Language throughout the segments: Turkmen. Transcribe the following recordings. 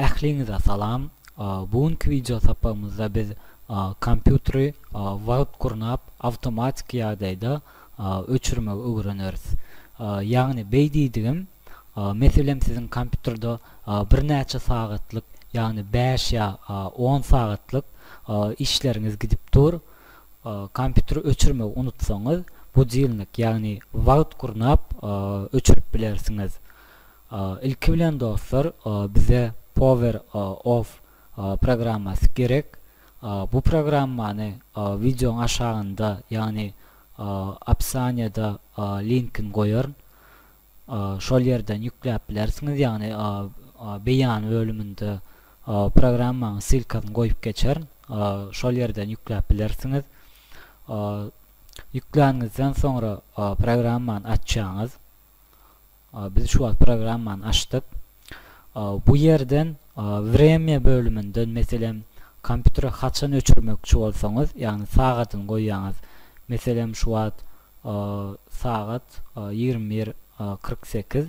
Ähliňize salam. Bu günki wideo sapagymyzda biz kompýuteri wagt gurnap awtomatiki ýagdaýda öçürmegi öwreneris. Ýagny beý diýdigim meselem siziň kompýuterde birnäçe sagatlyk ýagny bäş ýa on sagatlyk işleriňiz gidip dur. Kompýuteri öçürmegi unutsaňyz, budilnik, ýagny wagt gurnap, öçürip bilersiňiz. Ilki bilen dostlar, bize Power Off programmasy gerek. Bu programmany wideoň aşagynda, ýagny opsiýada linkini goýaryn. şol ýerden ýükläp bilersiňiz, ýagny beýan bölüminde programmaň ssylkasyny goýup geçerin, şol ýerden ýükläp bilersiňiz. Ýükläniňizden soňra programmany açýaňyz. Biz şu wagt programmany açdyk. Bu ýerden Wremýa bölüminden, meselem, kompýuteri haçan öçürmekçi bolsaňyz, ýagny sagadyny goýýaňyz. Meselem, şu wagt sagat ýigrimi bir kyrk sekiz,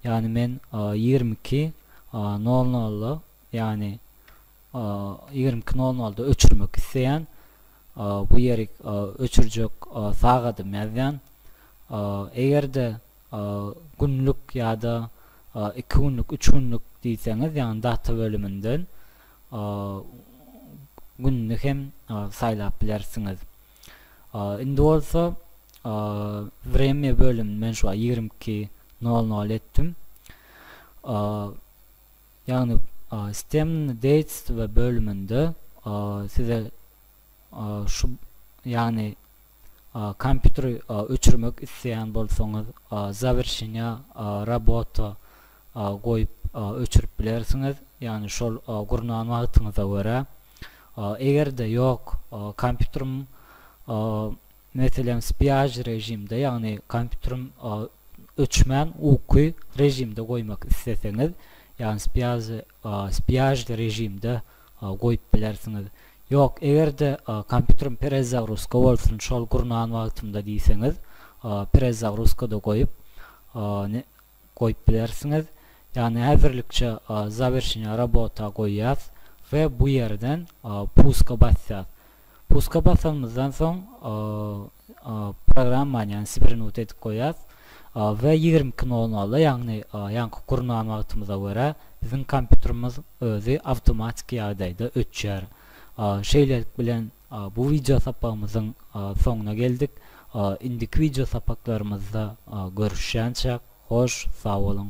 ýagny men ýigrimi iki nol nolda, ýagny ýigrimi iki nol nolda öçürmek isleýän. Bu ýerik öçürjek sagadym ýazýan. Eger-de günlük ýa-da iki günlük, üç günlük diýseňiz, ýagny data bölüminden gününi hem saýlap bilersiňiz. Indi bolsa Wremýa bölümini men şu wagt ýigrimi iki nol nol etdim. Ýagny Stemni deýtstwo bölüminde size şu ýagny kompýuteri öçürmek isleýän bolsaňyz zawerşenýa robota goýup öçürip bilersiňiz ýagny şol gurnan wagtyňyza görä. Egerde ýok kompýuterim Meselem, spiage režimde, ýagny kompýuteriň öçmän uky režimde goýmak isleseňiz, ýagny spiage spiage režimde goýup bilersiňiz. Ýok, eger-de kompýuterim perezagruska bolsun şol gurnan wagtymda diýseňiz, perezagruskada goýup, goýup bilersiňiz. Ýagny häzirlikçe zawerşenýa robota goýýas we bu ýerden puska basýas. Puska basanymyzdan soň programmany ýagny sibirnut edip goýýas we ýigrimi iki nol nolda ýagny ýaňky gurnan wagtymyza görä biziň kompýuterimiz özi awtomatiki ýagdaýda öçýär. Şeýlelik bilen. Bu wideo sapagymyzyň soňuna geldik. Indiki wideo sapaklarymyzda görüşýänçäk, hoş sag boluň!